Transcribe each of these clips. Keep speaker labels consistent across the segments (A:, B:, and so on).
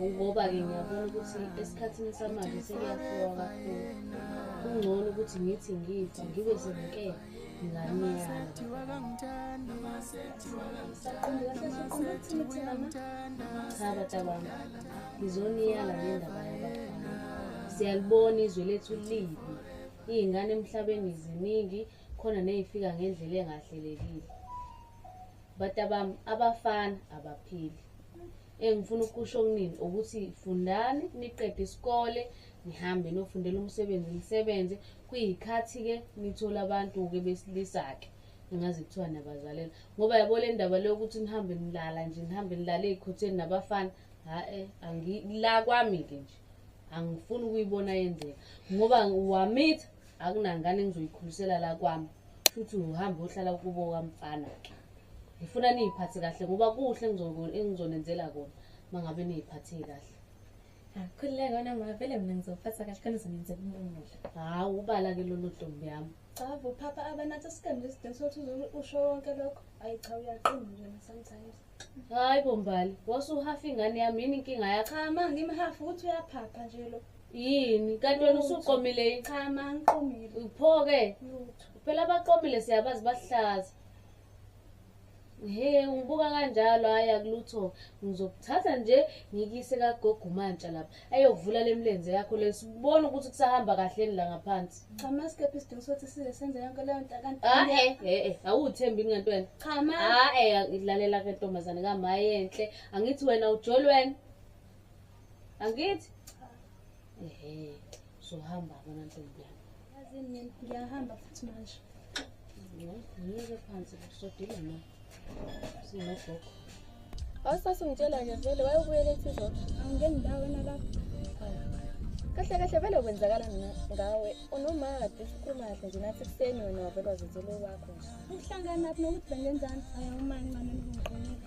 A: ngoba-ke ngiyabona ukuthi esikhathini samanje sekuyafiwa kakhulu kungcono ukuthi ngithi ngifa ngibe senkela cha batabami ngizoniyala ngendaba yabafana siyalibona izwe lethu libi iy'ngane emhlabeni ziningi khona ney'fika ngendlela engahlelekile batabami abafana abaphili engifuna ukusho kunini ukuthi fundani niqede isikole nihambe nofundela umsebenzi nisebenze kuyikhathi-ke nithola abantu-ke besilisa-ke engazi kuthiwa nabazalela ngoba yabo le ndaba leyo ukuthi nihambe nilala nje nihambe nilala ey'khotheni nabafana ha-e la kwami-ke nje angifuni ukuyibona yenzeka ngoba wamitha akunangane engizoyikhulisela la kwami futhi uhambe ohlala kubo kwamfana-ke ngifuna niyiphathe kahle ngoba kuhle engizonenzela kona uma ngabe niyiphathe kahle khululeka
B: wena ma vele mina ngizophatha kahle khona uzonenzela umumuhle hhawu ubala ke
A: lolu ntombi yami cha vuphapha
B: abanathi sigambe isidingo sokuthi usho wonke lokho ayi cha uyaqina nje sometimes hhayi
A: bombali wasuhafa ingane yami yini inkinga yakho cha ma ngimhafa ukuthi
B: uyaphapha nje lo yini kanti
A: wena usuqomile yini cha ma
B: ngiqomile pho-ke
A: phela
B: abaqomile
A: siyabazi bahlaza He ungibuka kanjalo hhayi akulutho ngizokuthatha nje ngikuyise kagogo umantsha lapha ayokuvula le mlenze yakho le sibone ukuthi kusahamba kahleni la ngaphansi Cha masikephi isidingo
B: sokuthi size senze yonke leyo nto kanti. ae e-e awuthembi
A: yini kanti wena Cha ma. ae
B: lalela
A: ke ntombazane kamayenhle angithi wena ujoli wena angithi ehe uzohamba bona ntombi yami yazi mina ngiyahamba
B: futhi
A: manje ngiyeke phansi kusodile na sinogogo
B: awusasingitshela nje vele wayebuyela ethi izolo angingeni ndawo na lapho kahle kahle vele kwenzakala ngawe unomade sikhuluma kahle nje nathi ekuseni wena wavele wazenzele kwakho nje uhlangana phi nokuthi bengenzani ayi uma ncane nibonqonile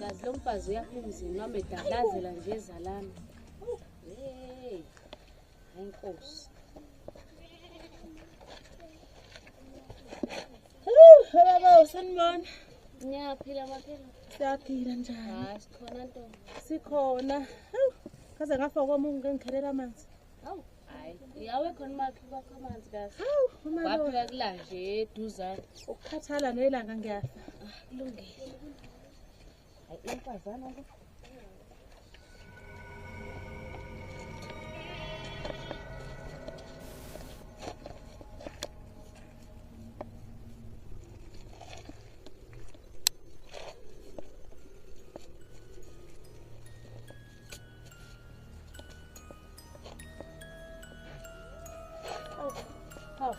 A: kazi lo mfazi uyapha umzini wami edalazela nje ezalami hey ayinkosi
B: baba usanibona ngiyaphila
A: maphela siyaphila
B: njani sikhona ntombi
A: sikhona
B: kaze ngafa kwami ngikhelela amanzi
A: Hawu, hayi. Uyawe khona umakhi kwakho amanzi kahle. Hawu, uma waphika
B: kulanje
A: eduzane. Ukukhathala
B: nelanga ngiyafa. Ah, kulungile.
A: Hayi, umfazana lo.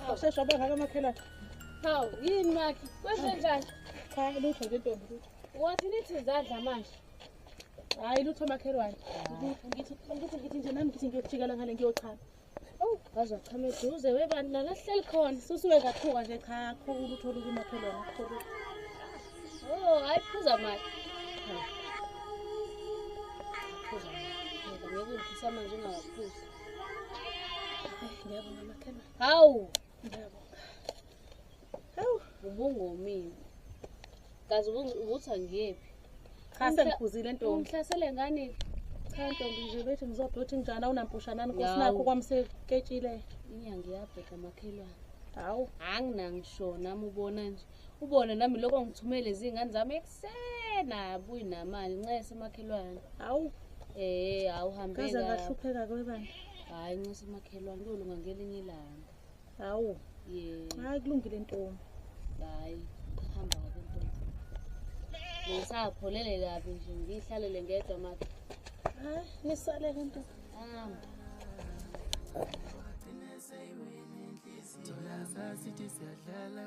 B: Awushesha bengaka makhelwane. Hawu
A: yini makhi? Kwenze njani? Cha lutho nje
B: ntombi lutho. Wathi nithi zadla
A: manje. Hayi
B: lutho makhelwane. Ngithi ngithi ngithi nje nami ngithi ngiyojikela ngale ngiyochama. waze wachama
A: eduze webantu nala sihleli khona susuke kathuka nje
B: cha khulu uthole kumakhelwane kuthole o
A: oh, hayi phuza mali phuza mali ngeke ungifisa manje ungawaphuzi
B: ngiyabonga makhelwane hawu
A: ngiyabonga
B: Hawu,
A: ubungomile. Kazi ubu- ubuthi angiyephi. Cha
B: sengiphuzile ntombi. Ungihlasele ngani?
A: Cha ntombi
B: nje bethi ngizophi uthi njani awunampushanani
A: Yawu.
B: kosinakho kwamseketshile. Inyanga iyabheda makhelwane. Hawu. Anginangisho
A: nami ubona nje. Ubone nami lokho ngithumele izingane zami ekusena buyi namali ncese makhelwane. Hawu.
B: Eh, awuhambeka.
A: Kaze ngahlupheka
B: kwebani. Hayi ncese
A: makhelwane kuyolunga ngelinye ilanga. hawu
B: hayi kulungile ntombi hayi
A: hamba kabi ntombi ngisapholele kabi nje ngiyihlalele ngedwa maka hayi
B: nisalele ntombi hamba Thola sasithi siyadlala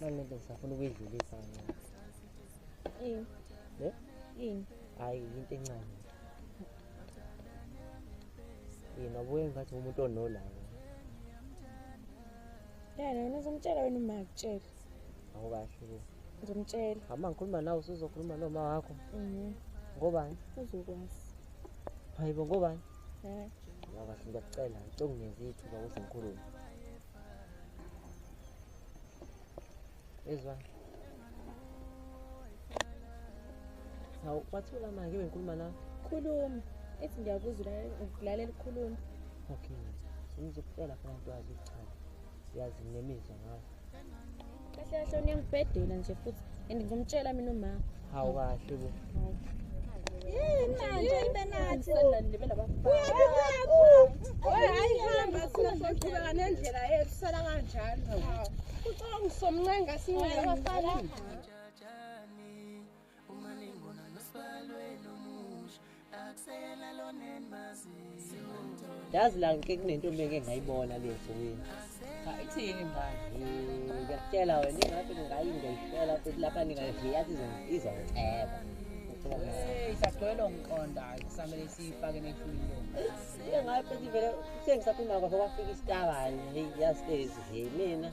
C: Mane nto safuna ukuyidlulisa kancane.
B: Yini? Ne?
C: Yini?
B: Hayi into
C: encane. Yena ubuye ngathi umuntu onolaka.
B: Yena wena uzomtshela wena uma akutshela. awukahle
C: ngimtshela
B: hamba ngikhuluma nawe
C: usuzokhuluma noma wakho mhm. ngobani uzokwazi
B: hayibo
C: ngobani eh.
B: awukahle ngiyakucela
C: ngicela ungenzi ithuba ukuthi ngikhulume ezwa hawu wathula manje bengikhuluma nawe khuluma
B: ethi ngiyakuzulalela ukukhuluma okay
C: ngizokutshela khona nto wazi ukuchana siyazi nemizwa ngayo kahle
B: kahle uniyangibhedela nje futhi and ngizomtshela mina umama hawu kahle bo
C: yini
B: manje ibe nathi
D: uyahamba sizoqhubeka nendlela yethu sala kanjalo ucabanga usomncenga sinyela abafana Uma ningona
C: nosbalwe nomusha akusela lonen mazi Yazi la ngike kunento meke ngayibona le nsukwini. Cha ithini
E: manje? Ngiyakutshela
C: wena ingathi ngayi ngiyishela futhi lapha ningaziyazi izongiceba. Hey,
E: sagcwele ngiqonda kusamele siyifake nehlwini lo. Sike ngayo
C: futhi vele sengisaphuma kwafika istabani. Hey, yazi lezi mina.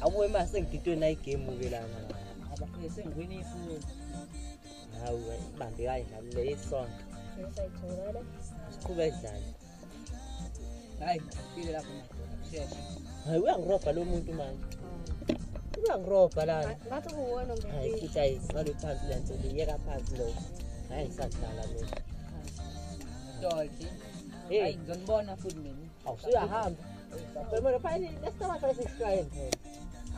B: Akuwe
C: ma sengididwe nayi game ke lana. Abafike sengiwina
E: ifoni. Hawu
C: ibambe kayi nami le isonto. Ngisayithola.
B: Siqhube dlala.
C: Hayi, ngifile
E: lapho madoda. Sheshe. Hayi uyangiroga
C: lo muntu manje. Uyangiroga la. Ngathi kuwona
B: ngempela. Hayi futhi ayi
C: ngalo
B: phansi la
C: nto liyeka phansi lo. Hayi ngisadlala mina. Dodge.
E: Hey, ngizonibona
C: futhi
E: mina.
C: awusuyahamba Primero, pa ini esta va a ser Israel.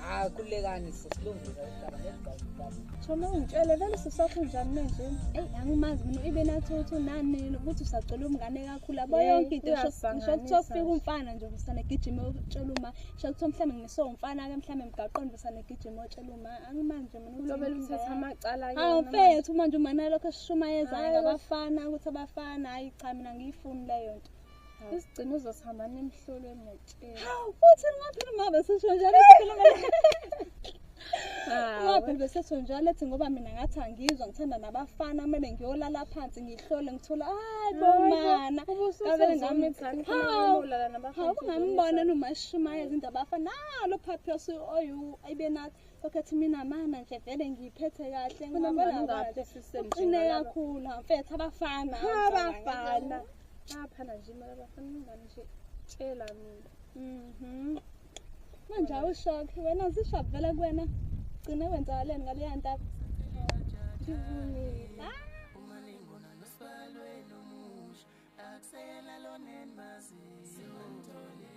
C: Ah, kulekani
E: sesilungisa ihlala nezigaba. Thoma ungitshele
D: vele sisakho njani manje? Ey, angimazi mina
B: ibe nathotho nani ukuthi usacela umngane kakhulu. Abo yonke into ngisho kuthiwa kufika umfana nje kusane gijima utshela uma. Ngisho kuthiwa mhlawumbe ngise umfana ke mhlawumbe mgaqondo kusane gijima utshela uma. Angimazi nje mina ukuthi lobela uthatha amacala
D: ke. Hawu mfethu
B: manje uma nalokho sishumayeza ngabafana ukuthi abafana hayi cha mina ngiyifuni leyo nto. Isigcina
D: uzohamba nemhlolo emotsheni. Hawu, futhi ngaphela
B: uma besisho njalo sikhuluma. Ngabe besesho njalo ethi ngoba mina ngathi angizwa ngithanda nabafana kumele ngiyolala phansi ngihlole ngithola hayi bomana kavele ngami
D: hawu hawu kungambona
B: nomashumaye izinto abafana nalo phaphi osu oyu ayibe nathi okhethi mina mana nje vele ngiyiphethe kahle ngibona ngathi sisemjini
D: kakhulu
B: mfethu abafana abafana
D: Bayaphana nje mara bafana ingane nje tshela mina. Mhm.
B: Manje awushock wena zishop vela kuwena. Gcine wenzakaleni ngaleya ntaba. Ngivumile.
D: Ah! Akuseyena lona endimaziyo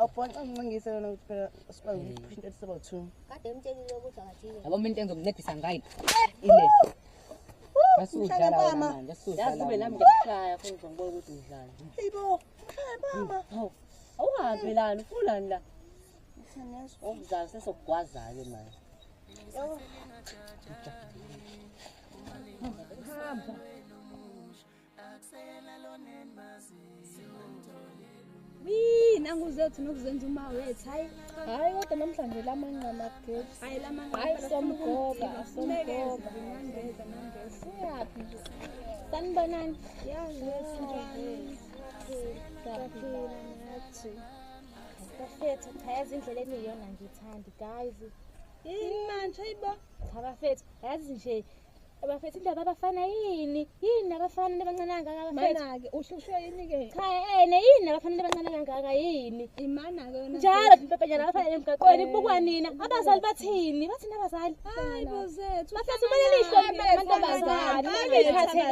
C: awubhonxa
E: umncingise yona ukuthi phela sikwazi ukuthi kushintsha eliseba two
C: yabo mina into engizokuncedisa ngayo ile Mshaya mama. Yazi ube nami ngikushaya futhi ngibona ukuthi ngidlala. Hayibo,
E: mshaya mama. Hawu.
C: Awuhambi lana, ufunani la? Okuzala sesokugwaza-ke manje. Hamba.
B: Wii, nangu zethu nokuzenza uma wethu. Hayi, hayi kodwa namhlanje lamanqa mageti. Hayi lamanqa. Hayi somgoba, somgoba. Nangeza, nangeza. Uyaphi nje? Sanibonani. Yazi wethu njani? Saphila nathi. Bafethu, cha yazi indlela eniyona ngithandi, guys. Yini manje, hayibo? Cha bafethu, yazi nje abafethu indaba abafana yini yini abafana nebancane kangaka abafethu mana-ke uhlushwe yini-ke cha ene yini abafana nebancane kangaka yini imana-ke yona njalo mpepenyana abafana emgaqweni bukwa nina abazali bathini bathini abazali hayi bozethu bafethu kumele lihlomantombazane liphathe kahle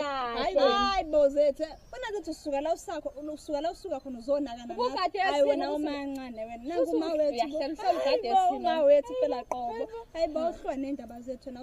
B: hayi bozethu funa ukuthi usuka la usakho usuka la usuka khona uzonaka nanahayi wena umancane wena nangu uma wethu uma wethu phela qobo hayi bawuhlwa nendaba zethu wena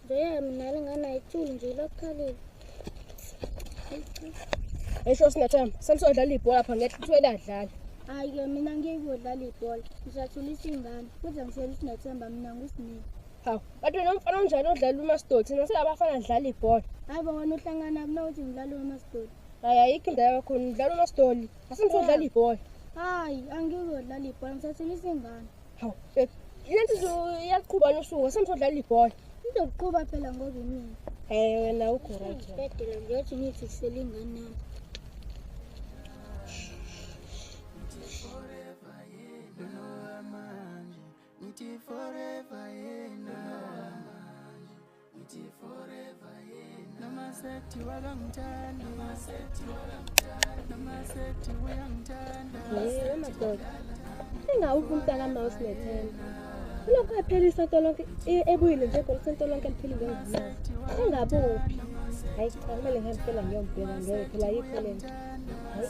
B: Nje mina lingana ithuli nje lokhalile. Esho sinathamba, samso udlala ibhola lapha ngeke kuthiwe ladlala. Hayi ke mina ngeke udlala ibhola. Ngisathulisa ingane. Kuze ngishela usinathamba mina ngusinini. Hawu, kanti wena umfana onjani odlala umasidoti? Nase abafana dlala ibhola. Hayi bo wena uhlangana kunokuthi ngidlala umasidoti. Hayi ayikho indaba yakho, ngidlala umasidoli. Asimso udlala ibhola. Hayi angeke udlala ibhola. Ngisathulisa ingane. Hawu, babe, le nto izo- iyaqhuba nosuku, asamsodlala ibhola. Izoqhuba phela ngoba imina. Eh, wena ukho right. Bedela ngiyothi ngiyifisele ingane
F: yami. Ngithi forever yena Yebo madoda.
B: Engawuphi umntaka mouse nethemba. Kulokho ephela isonto lonke e- ebuyile nje kodwa isonto lonke liphelile ngizimali. Engabuphi. Hayi cha kumele ngihambe phela ngiyombheka ngeke phela yikho lento. Hayi.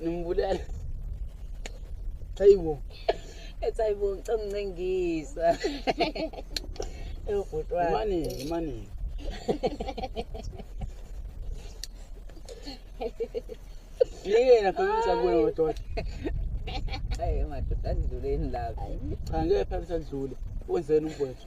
C: Nimbulala.
E: Hayibo. Ethi hayibo
C: ngicela uncengisa. Eyobhuti wakhe. Imani,
E: imani. Yena phamisa kuwe madoda.
C: Hayi madoda andluleni lapho. Cha ngeke phamisa
E: ndlule. Wenzeni umfowethu?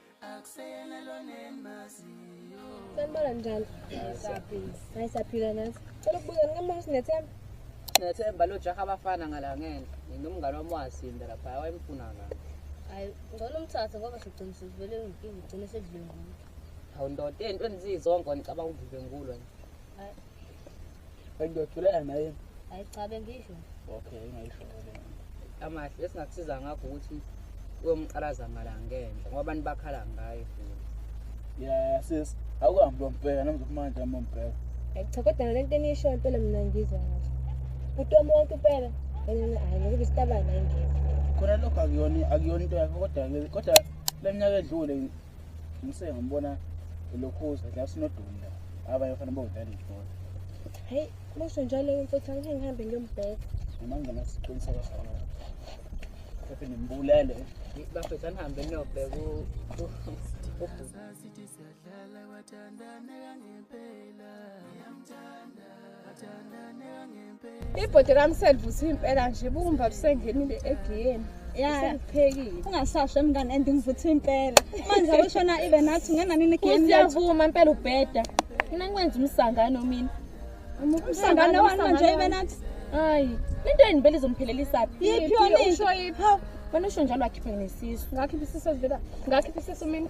B: Sanibona njalo. Hayi saphila nathi. Cela ukubuza ngamama sinethemba. Sinethemba
C: lo jaha abafana ngala ngenhla. Nginomngane wami wasinda lapha wayemfuna la. Hayi ngcono
A: umthathe ngoba sigcina sivele inkinga ugcine sedlule ngumuntu. Hawu ndoda
C: into enizizonke ngicabanga uvive ngulo nje. Hayi
E: Ngiyothuleka naye.
A: Ayicabe
E: ngisho.
A: Okay, ngayisho
C: ngale. Amahle esingakusiza ngakho ukuthi uyomqalaza ngala ngenhla ngoba abantu bakhala ngaye futhi. Yeah,
E: sis. Awuhambi lombheka namzokumanje amombheka. Cha kodwa ngale
B: nto enisho impela mina ngizwa ngathi. Uthi umuntu impela yena hayi ngokuba isitabana ingeke. Khona lokho
E: akuyona akuyona into yakho kodwa kodwa leminyaka edlule Ngise ngambona elokhuza la sinodunda abanye bafana bawudlala ibhola. Hey,
B: kusho njalo mfethu angike ngihambe ngiyombheka. Amanga nasiqiniseka
E: sona. Phephe nimbulele. Bafethu
C: anihambe niyobheka u
F: Sasithi siyadlala wathandana kangempela. Ngiyamthanda. ibhodi lami selivuthiwe
D: impela nje bumba lusengenile egiyeni yaphekile ungasasho emngane
B: and ngivuthe impela manje awushona ibe nathi ungena nini egiyeni siyavuma impela
D: ubheda mina ngikwenza umsangano mina umsangano
B: wani manje ibe nathi hayi
D: into yini vele izomphelelisapi yiphi yona usho yiphi wena usho njalo wakhiphe nesisu ngakhiphe isisu ezivela ngakhiphe isisu mina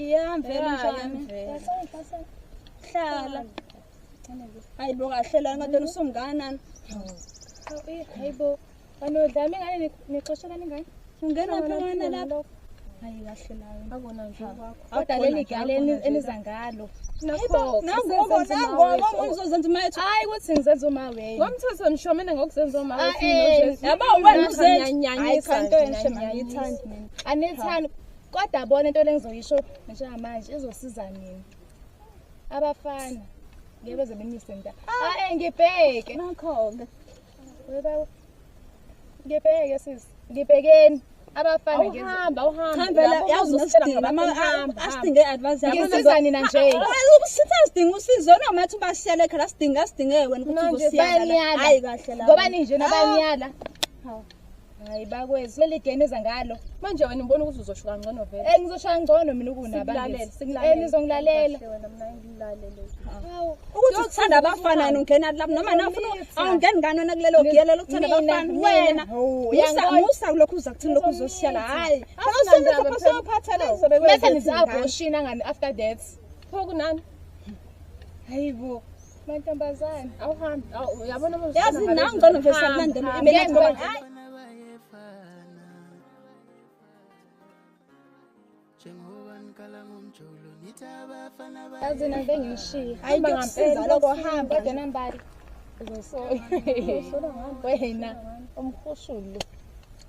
B: iyamvela njani hlala hayi bo kahle la ngathi usumnganani
D: hayi bo banodlama ingane nexesha kaningane ungena phana
B: lapho hayi kahle layo akona nje
D: kodwa leli gale eniza ngalo nangobo nangobo
B: nangobo ngizozenza umayethu hayi ukuthi ngizenza uma
D: wewe ngomthetho ngisho mina ngokuzenza uma wewe yabo wena uzenza
B: hayi kanto enhle mangiyithandi mina anithandi
D: kodwa bona into lengizoyisho njengamanje izosiza nini abafana ngeke beze benyise mnta ae ngibheke
B: nakho-ke
D: ngibheke sisi ngibhekeni abafana ngihamba
B: uhambayaziusidingaasdinge advanceasiza nina nje
D: sidinga
B: usizo noma athi ubasiyala ekhaya sidinga sidinge wena ukuthi ubusiyala hayi kahle ngoba ninje nabanyala
D: hayi bakwethu leli game eza ngalo manje wena ngibona ukuthi uzoshuka ngcono vele eh ngizoshaya ngcono mina ukunabangela eh nizongilalela ukuthi
B: uthanda abafana yena ungena lapho noma nafuna awungeni ngani wena kulelo giyela lokuthanda abafana wena musa musa kulokhu uza kuthini lokhu uzosiyala hayi awusinda lapho sophatha lo bese nizabhoshina
D: ngani after that pho kunani hayibo mantombazane awuhambi uyabona yazi nawe
B: ngcono vese
D: akulandela imele ngoba hayi azina ngibe ngishiye hamba ngampela lokho hamba kodwa nambali uzosola wena umhushulu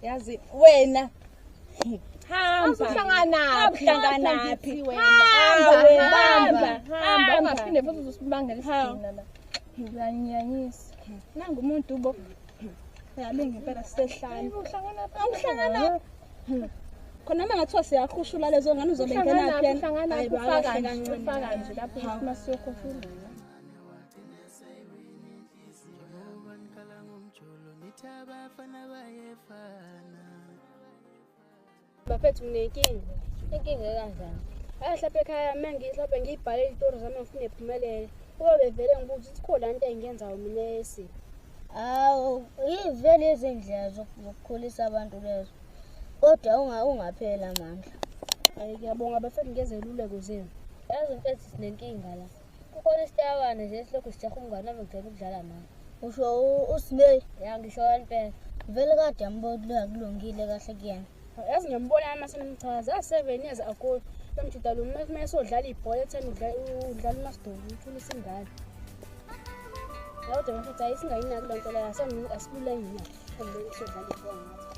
D: yazi wena nangu umuntu ubo yalinga
B: impela sisehlane uhlangana khona uma ngathiwa siyakhushula lezo ngane uzobe
D: ngenaphi Njengoba nikhala ngomjolo nithi
G: abafana bayefana bafethu nginenkinga inkinga ekanjani ayi hlapha ekhaya uma ngihlaphe ngiyibhale izitori zami ngifune iphumelele kube bevele ngibuza ukuthi khona into engiyenzayo mina esi hawu
H: yivele izindlela zokukhulisa abantu lezo kodwa ungapheli amandla um ngiyabonga
G: bafethu ngezeluleko zenu yazi mfethu sinenkinga la kukhona isitabane nje esilokhu sijaha umngane wami ngicela ukudlala naye usho
H: usimei ya ngisho impela
G: vele kade
H: yambona kulungile kahle kuyena yazi ngiyambona yami
G: asenimchaza a-seven years ago lomjuda lo uma esodlala ibhola etheni udlala umasidolo uthula isingane kodwa mfethu ayisingayinaki loo nto leyo asilulangina esodlala ibhola ngathi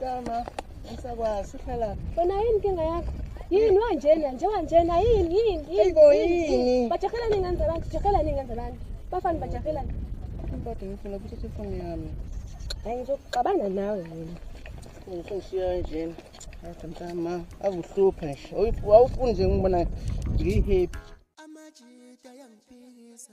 C: Kama ngisakwazi uhlala. Wena yini inkinga yakho?
G: Yini wanjena nje wanjena yini yini yini. Ibo yini?
C: Bajahela ningenza abantu,
G: jahela ningenza abantu. Bafana bajahela. Impatho
C: ngifuna ukuthi ifoni yami. Hayi
G: ngizoxabana nawe mina. Ngishiya
C: njena. Hayi mntama, akuhluphe nje. Awufuni nje ngibona ngihappy. Amajita
F: yangiphikisa.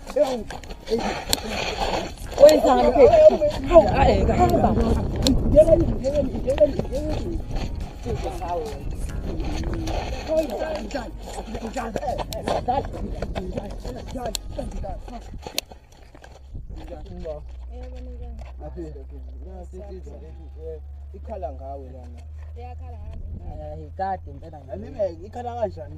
I: ikhala ngawe lana
C: ikhala
E: kanjani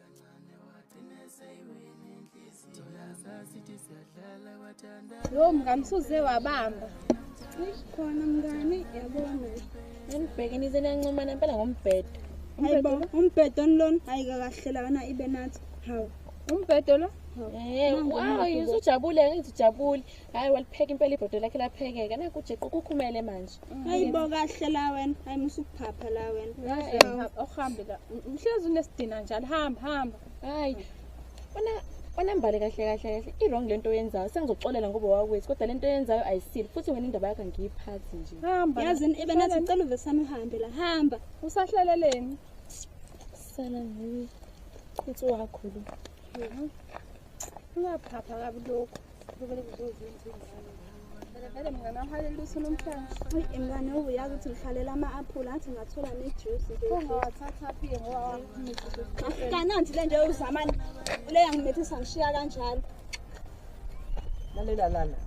B: Lo mngani usuze wabamba. Khona mngani yabona. Ngibhekene
D: izenancoma nempela ngombhedo. Hayibo
B: umbhedo lona ayikakahlelana ibe nathi. Hawu. Umbhedo
D: lo? Eh, wow, yizujabule ngithi jabule. Hayi walipheka impela ibhodo lakhe laphekeka. Nakujeqa ukukhumele manje. hayibo kahle
B: la wena hayi musa ukuphapha la wena awuhambe la
D: mhlezi unesidina njalo hamba hamba hayi wena onambale kahle kahle kahle i-wrong le nto oyenzayo sengizoxolela ngoba wakwethu kodwa le nto oyenzayo ayisile futhi wena indaba yakho angiyiphathi nje hamba yazini ibe
B: nathi ngicela uvesami uhambe la hamba usahlaleleni
D: sala ngiwe uthi wakho lo ungaphapha kabi lokhu Mngane
B: uyazi ukuthi ngihlalela ama-aphula athi ngathola
D: nejuice
B: kananti le nje uzamani le yangimethisa ngishiya kanjalo
I: lalela lala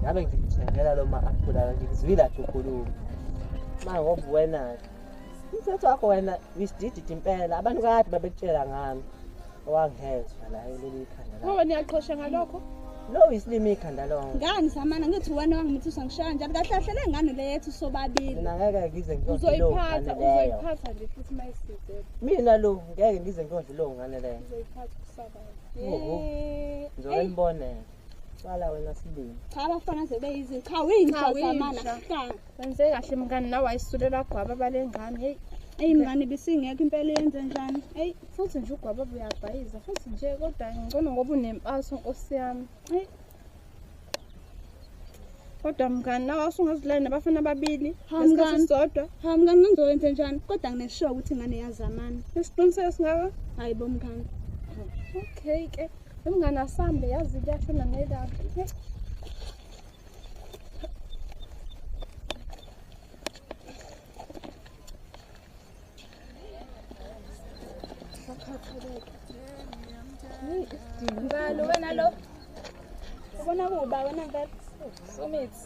I: ngabe ngikuthengela lo ma-aphula ngikuzwile athi ukhuluma ma ngoba wena-ke umthetho wakho wena wisidididi impela abantu kade babekutshela ngami Wangezwa la ulele ikhanda lakho. Ngoba niyaqhosha
D: ngalokho. Lo isilimi
I: ikhanda lonke. Ngani samana ngithi
B: wena wangimithisa ngishaya njalo kahle kahle le ngane le yethu sobabili. Mina ngeke ngize
I: ngiyodla lo. Uzoyiphatha uzoyiphatha nje
D: futhi mayiside. Mina lo ngeke
I: ngize ngiyodla lo ngane le. Uzoyiphatha
D: kusaba. Yey.
I: Ngizobona. Cala wena sibili. Cha abafana sebeyizinto.
B: Cha winja samana. Wenze
D: kahle mngani nawe ayisulela gwaba balengane. Hey. Eyi mngani
B: bisingekho impela yenze njani? Eyi futhi nje
D: ugwaba buyabhayiza futhi nje kodwa ngcono ngoba unempatho nkosi yami. Eyi. Kodwa mngani nawe usungazilani nabafana ababili ngesikhathi sodwa. Ha mngani ngizokwenze
B: njani? Kodwa ngineshow ukuthi ngane yazamana. Isiqiniseko singaka?
D: Hayibo mngani.
B: Okay
D: ke. Umngane asambe yazi kuyashona nelanga. Ngalo wena
B: lo. Ubona kuba wena ngeke. Sumithi.